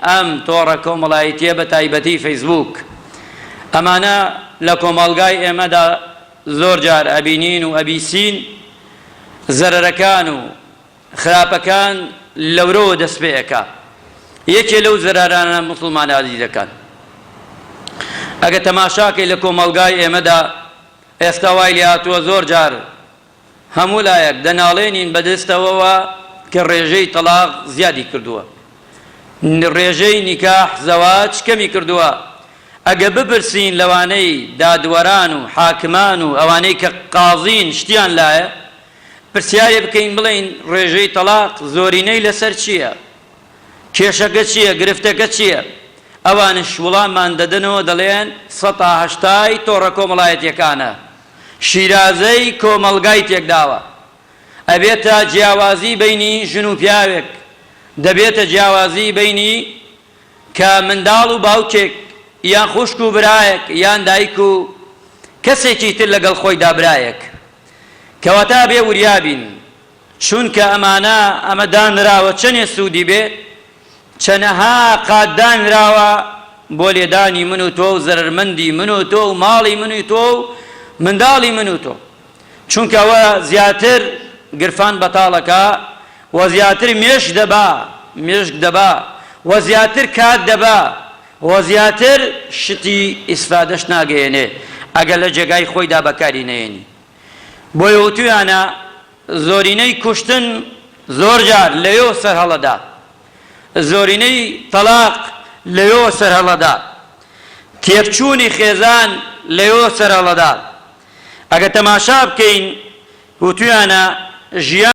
ئەم تۆڕە کۆمەڵایەتیە بە تایبەتی فەیسبووک ئەمانە لە کۆمەڵگای ئێمەدا زۆر جار ئەبینین و ئەبیسین زەرەرەکان و خراپەکان لەورەوە دەست پێ ئەکا یەکێ لەو زەرەرانە موسڵمانە ئازیزەکان ئەگە تەماشاکەی لە کۆمەڵگای ئێمەدا ئێستا وای لێ هاتووە زۆر جار هەموو لایەک دەناڵێنین بە دەستەوەوە کە ڕێژەی تەڵاق زیادی کردووە، ڕێژەی نیکاح، زەواج، کەمی کردووە، ئەگە بپرسین لەوانەی دادوەران و حاکمان و ئەوانەی کە قازین شتیان لایە پرسیاری بکەین بڵێن ڕێژەی تەڵاق زۆرینەی لەسەر چییە؟ کێشەکە چییە؟ گرفتەکە چییە؟ ئەوانیش وڵاممان دەدەنەوە دەڵێن سەتا هەشتای تۆڕە کۆمەڵایەتییەکانە. شیرازەی کۆمەڵگای تێکداوە ئەبێتە جیاوازی بەینی ژن و پیاوێک دەبێتە جیاوازی بەینی کە منداڵ و باوکێک یان خوشک و برایەک یان دایک و کەسێکی تر لەگەڵ خۆیدا برایەک کەواتە ئەبێ وریا بین چونکە ئەمانە ئەمە دانراوە چەنێ سودی بێ چەنەها قات دانراوە بۆ لێدانی من و تۆ و زەرەرمەندی من و تۆ و ماڵی من و تۆ و منداڵی من و تۆ، چونکە ئەوە زیاتر گرفان بەتاڵ ئەکا و زیاتر مێشک دەبا مێشک دەبا و زیاتر کات دەبا و زیاتر شتی ئیسفادەش ناگەیەنێ ئەگەر لە جێگای خۆیدا بەکاری نەیەنی. بۆیە وتویانە زۆرینەی کوشتن زۆرجار لەوێ سەرهەڵەدا، زۆرینەی تەڵاق لەوێ سەرهەڵەدا، تێکچوونی خێزان لەوێ سەرهەڵەدا، ئەگەر تەماشا بکەین وتویانە ژیان.